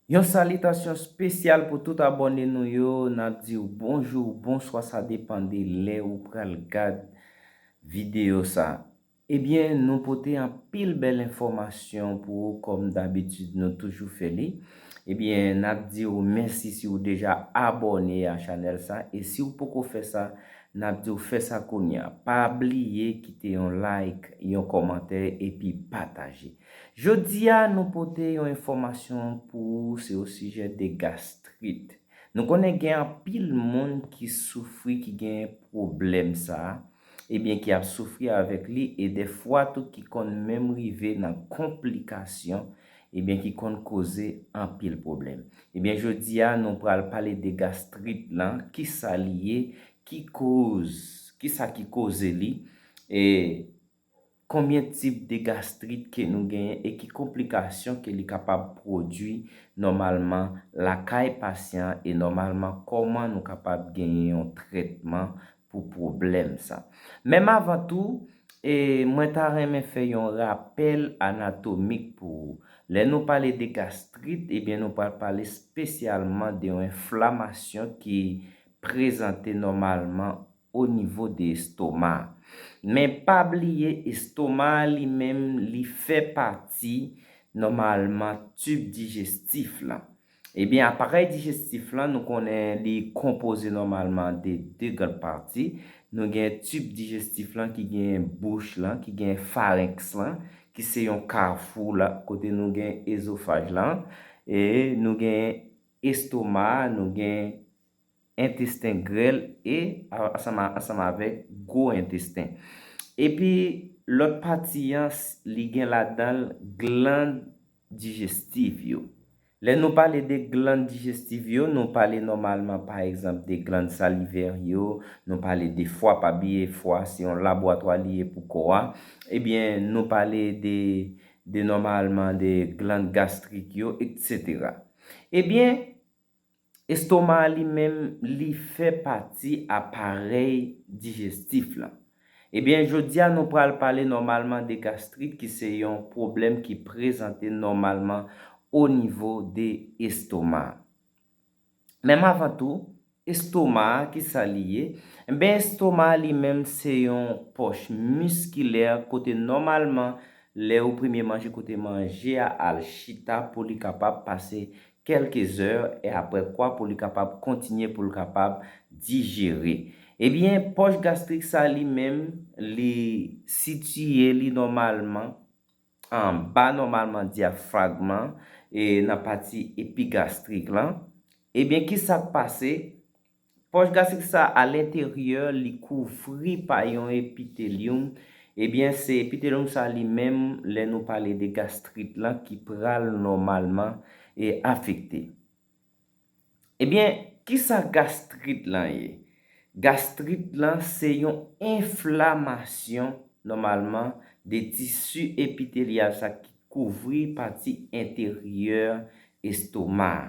Yon salitasyon spesyal pou tout abòne nou yo nap diw bonjou ou bonswa sa depan de lè ou pral gad video sa ebyen nou pote anpil bèl enfòmasyon pou ou kòm dabitid nou toujou fè li ebyen nap diw mèsi si ou deja abòne a chanèl sa e siw poko fè sa nap diw fè sa kounya pa bliye kite yon like yon kòmantè epi pataje. Jodi a nou pote yon enfòmasyon pou ou se osijè de gastrit. Nou konnen gen anpil moun ki soufri ki gen pwoblèm sa, ebyen ki ap soufri avèk li e de fwa tou ki konn menm rive nan konplikasyon ebyen ki konn koze anpil pwoblèm. Ebyen jodi a nou pral pale de gastrit lan, kisa li ye, ki koz, kisa ki koze li e. Konbyen tip de gastrit ke nou genyen e ki konplikasyon ke li kapab pwodwi nòmalman lakay pasyan an e nòmalman kòman nou kapab genyen yon trètman pou pwoblèm sa. Menm avan tou, e mwen ta renmen fè yon rapèl anatomik pou ou. Lè nou pale de gastrit, ebyen nou pral pale spesyalman de yon enflamasyon ki prezante nòmalman o nivo de estoma. Men pa bliye estoma a li menm li fè pati nòmalman tib dijestif lan. Ebyen aparèy dijestif lan nou konnen li konpoze nòmalman de 2 gran pati. Nou gen tib dijestif lan ki gen bouch lan, ki gen farenks lan, ki se yon kafou la kote nou gen ezofaj lan. E nou gen estoma a, nou gen entesten grèl e ansanm avèk gwo entesten. Epi lòt pati an li gen ladan l gland dijestiv yo. Lè nou pale de gland dijestiv yo, nou pale nòmalman pa egzanp de gland salivèr yo, nou pale de fwa, pa bliye fwa se yon labwatwa li ye pou kò a, ebyen nou pale de nòmalman de gland gastrik yo, eksetera. Ebyen. Estoma a li menm li fè pati aparèy dijestif lan. Ebyen jodi a nou pral pale nòmalman de gastrit ki se yon pwoblèm ki prezante nòmalman o nivo de estoma. Menm avan tou, estoma a ki sa li ye? Enben estoma a li menm se yon pòch miskilè kote nòmalman lè ou premye manje kote manje a al chita pou li kapab pase kèlke zè e aprè kwa pou li kapab kontinye pou l kapab dijere. Ebyen pòch gastrik sa li menm li sitiye li nòmalman anba nòmalman dyafragm lan e nan pati epigastrik lan. Ebyen kisa k pase Pòch gastrik sa a alenteryè li kouvri pa yon epitelyum, ebyen se epitelyum sa a li menm lè nou pale de gastrit lan ki pral nòmalman e afekte. Ebyen kisa gastrit lan ye? Gastrit lan se yon enflamasyon nòmalman de tisi epitelyal sa ki kouvri pati enteryè estoma a.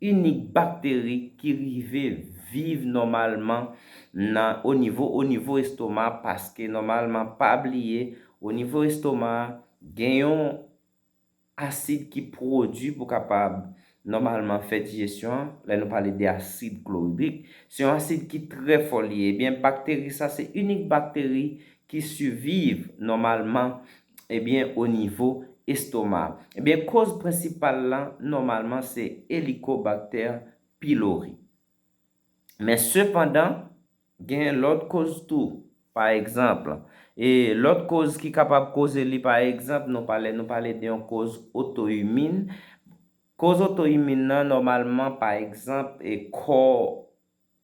inik bakteri ki rive viv nòmalman nan onivo onivo estoma paske nòmalman pa bliye onivo estoma gen yon asid ki pwodui pou kapab nòmalman fè dijesyon an lè nou pale de asid kloridrik se yon asid ki trè fò li ye ebyen bakteri sa se inik bakteri ki siviv nòmalman ebyen o nivo estoma. Ebyen koz prensipal lan nòmalman se Helicobacter pylori. Men sepandan gen lòt koz tou pa egzanp e lòt koz ki kapab koze li pa egzanp nou pale nou pale de yon koz otoimin. Koz otoimin lan nòmalman pa egzanp e kò.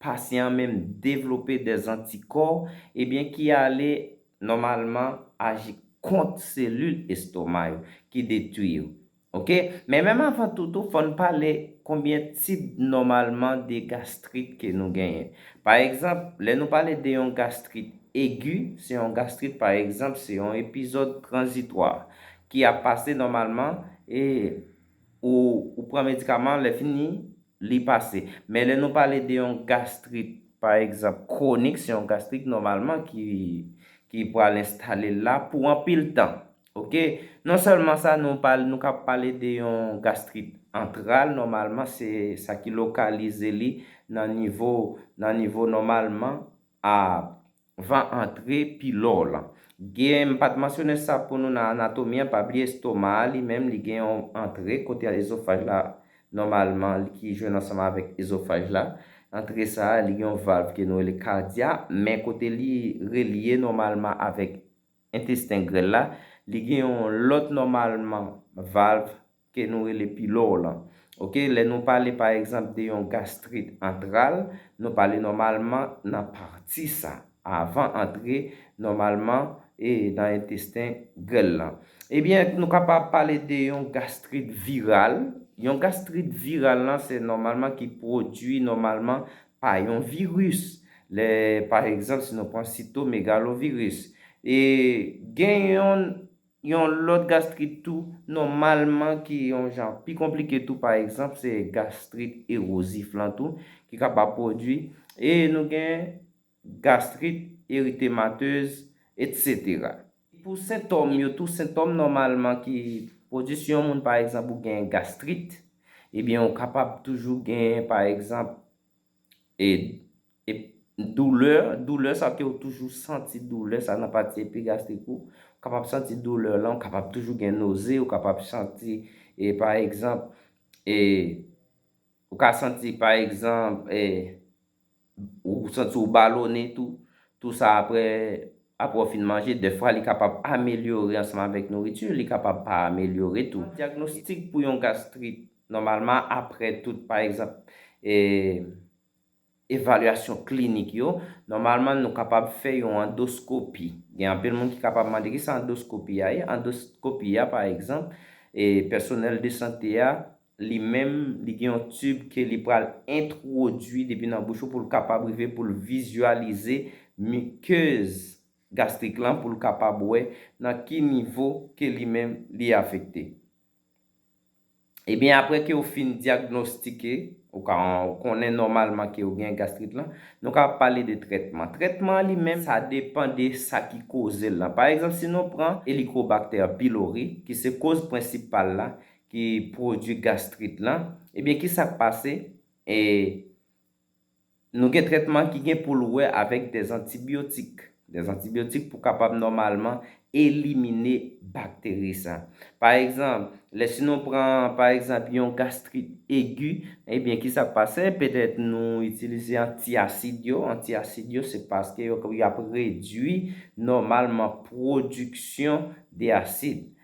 pasyan an menm devlope dè zantikò ebyen ki ale nòmalman aji kont selil estoma yo ki detwi yo ok men menm avan tout tou fòn pale konbyen tip nòmalman de gastrit ke nou genyen pa egzanp lè nou pale de yon gastrit egi se yon gastrit pa egzanp se yon epizòd tranzitwa ki ap pase nòmalman e ou pran medikaman lè fini Li pase. Men lè nou pale de yon gastrit pa egzanp kwonik se yon gastrit nòmalman ki ki pral enstale l la pou anpil tan. Ok. Non sèlman sa nou pale nou ka pale de yon gastrit antral nòmalman se sa ki lokalize li nan nivo nan nivo nòmalman a Van antre pi lò lan. Gen, m pat mansyone sa pou nou nan anatomi an, pa bliye estoma a li menm li gen yon antre kote ezofaj la nòmalman li ki jwenn ansanm avèk ezofaj la. Antre sa a li gen yon valv ke nou rele kadya, men kote li relye nòmalman avèk entesten grèl la, li gen yon lòt nòmalman valv ke nou rele pilòr lan ok lè nou pale pa egzanp de yon gastrit antral nou pale nòmalman nan pati sa avan antre nòmalman e nan entesten grèl lan ebyen nou kapab pale de yon gastrit viral yon gastrit viral lan se nòmalman ki pwodui nòmalman pa yon viris lè pa egzanp si nou pran sito megaloviris e gen yon Yon lòt gastrit tou, nòmalman ki yon jan pi konplike tou pa egzanp se gastrit erozif lan tou ki kapab pwodui e nou gen gastrit eritematez etsetera. Pou sentòm yo tou, sentòm nòmalman ki pwodui si yon moun pa egzanp ou gen gastrit ebyen ou kapab toujou gen pa egzanp Ed. Ep. Doulè, doulè sa kew toujou santi doulè sa nan pati epigastrik ou, ou kapab santi doulè lan, ou kapab toujou gen noze, ou kapab santi e pa egzanp e ou ka santi pa egzanp e ou santi ou balone tou, tou sa aprè aprè ou fin manje, dèfwa li kapab amelyore ansanm avèk nouriti, li kapab pa amelyore tou. Diagnostik pou yon gastrit. Nòmalman aprè tout pa egzanp evalyasyon klinik yo, nòmalman nou kapab fè yon andoskopi. Gen anpil moun ki kapab mande ki sa andoskopi a ye? Andoskopi a pa egzanp, pèsonèl de sante a li menm li gen yon tib ke li pral entwodui depi nan bouch ou pou l kapab rive pou l vizyalize mikez gastrik lan pou l kapab wè nan ki nivo ke li menm li afekte. Ebyen apre ke ou fin dyagnostike, ou ka konnen nòmalman ke ou gen gastrit lan, nou ka pale de trètman. Trètman an li menm, sa depan de sa ki koze l lan. Pa egzanp, si nou pran Helicobacter pylori, ki se koz prensipal la, ki pwodui gastrit lan, ebyen ki sa k pase? Nou gen trètman ki gen pou l wè avèk dèzantibyotik, dèzantibyotik pou kapab nòmalman elimine bakteri sa. Pa egzanp, lè si nou pran pa egzanp yon gastrit egi, ebyen ki sa k pase? Petèt nou itilize antiasid yo, antiasid yo se paske yo ap redui nòmalman pwodiksyon de asid.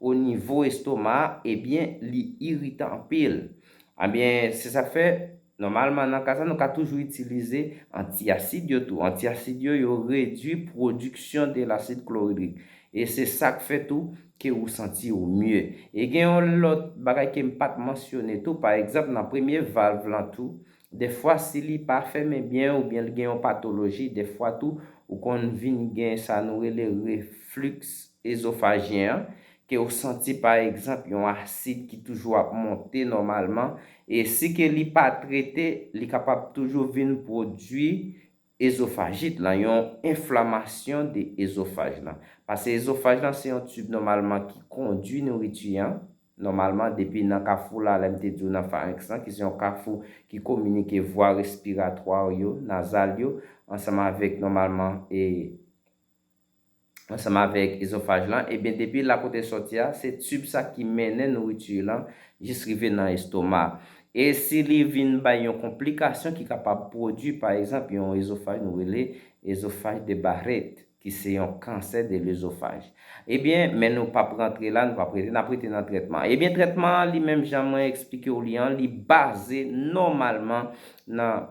o nivo estoma a ebyen li iritan anpil ebyen se sak fè nòmalman nan ka sa nou ka toujou itilize anti asid yo tou anti asid yo yo redwi pwodiksyon de lasid kloridrik e se sak fè tou ke ou santi ou mye e gen yon lòt bagay kem pat mansyone tou pa egzanp nan premye valv lan tou Dèfwa si li pa fèmen byen oubyen l gen yon patoloji, dèfwa tou ou konn vin gen sa nou rele refliks ezofajyen an, ke ou santi pa egzanp yon asid ki toujou ap monte nòmalman e si ke li pa trete li kapab toujou vin pwodui Ezofajit lan, yon enflamasyon de ezofaj lan. Pase ezofaj lan se yon tib nòmalman ki kondwi nouriti an, nòmalman depi nan kafou la, lè m te di w nan farenks lan ki se yon kafou ki kominike vwa respiratwa w yo, nazal yo, ansanm avèk nòmalman e. ansanm avèk ezofaj lan, ebyen depi la kote l sòti a, se tib sa ki mennen nouriti lan jis rive nan estoma. E si li vin bay yon konplikasyon ki kapab pwodui pa egzanp yon ezofaj nou rele ezofaj de Barrett, ki se yon kansè de lezofaj. Ebyen, men nou p ap rantre la, nou p ap rete, n ap rete nan trètman. Ebyen trètman an li menm jan mwen esplike w li an, li baze nòmalman nan.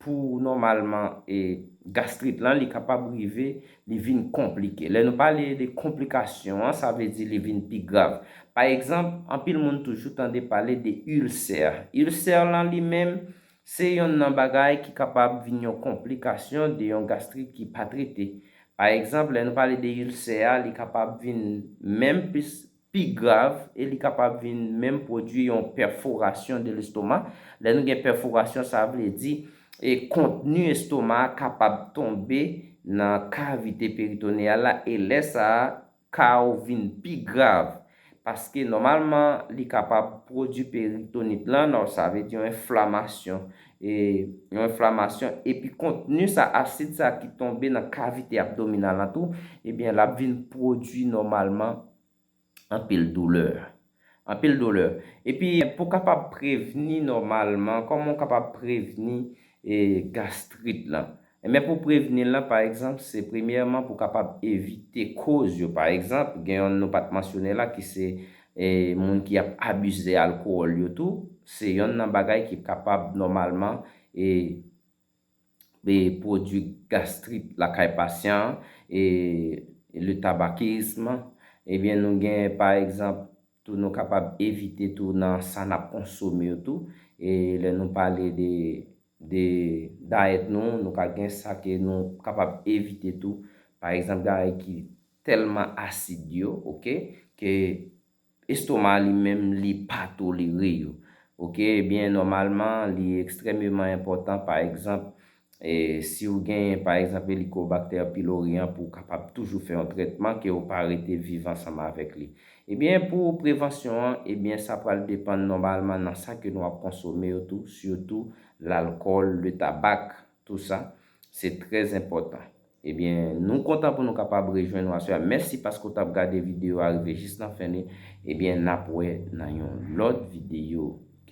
Pou nòmalman e gastrit lan li kapab rive li vin konplike. Lè nou pale de konplikasyon an sa vle di li vin pi grav. Pa egzanp, anpil moun toujou tande pale de ilsè. Ilsè lan li menm se yonn nan bagay ki kapab vin yon konplikasyon de yon gastrit ki pa trete. Pa egzanp, lè nou pale de ilsè a li kapab vin menm plis pi grav e li kapab vin menm pwodui yon pèforasyon de lestoma. Lè nou gen pèforasyon sa vle di e kontni estoma a kapab tonbe nan kavite peritoneyal la e lè sa a ka ou vin pi grav paske nòmalman li kapab pwodui peritonit lan sa vle di yon enflamasyon e yon enflamasyon epi kontni sa asid sa ki tonbe nan kavite abdominal lan tou ebyen lap vin pwodwi nòmalman anpil doulè anpil doulè epi pou kapab prevni nòmalman kòman ou kapab prevni gastrit lan Men pou prevni lan pa egzanp se premyèman pou kapab evite koz yo pa egzanp gen yon nou pat mansyone la ki se moun ki ap abize alkowòl yo tou se yonn nan bagay ki kapab nòmalman pwodwi gastrit lakay pasyan an e le tabakism ebyen nou gen pa egzanp Tou nou kapab evite tou nan sa nap konsome yo tou e lè nou pale de de dayèt nou nou ka gen sa ke nou kapab evite tou pa egzanp dayèt ki tèlman asid yo ok ke estoma li menm li pa tolere yo ok ebyen nòmalman li ekstrèmeman enpòtan pa egzanp Si ou genyen, pa egzanp, Helicobacter pylori an pou ou kapab toujou fè yon trètman ke ou pa rete viv ansanm avèk li. Ebyen pou prevansyon an, ebyen sa pral depann nòmalman nan sa ke nou ap konsome yo tou, sitou lalkòl, le tabak, tou sa, se trè enpòtan. Ebyen nou kontan pou nou kapab rejwenn ou aswè a. Mèsi paske ou t ap gade videyo a rive jis nan fen li. Ebyen n ap wè nan yon lòt videyo.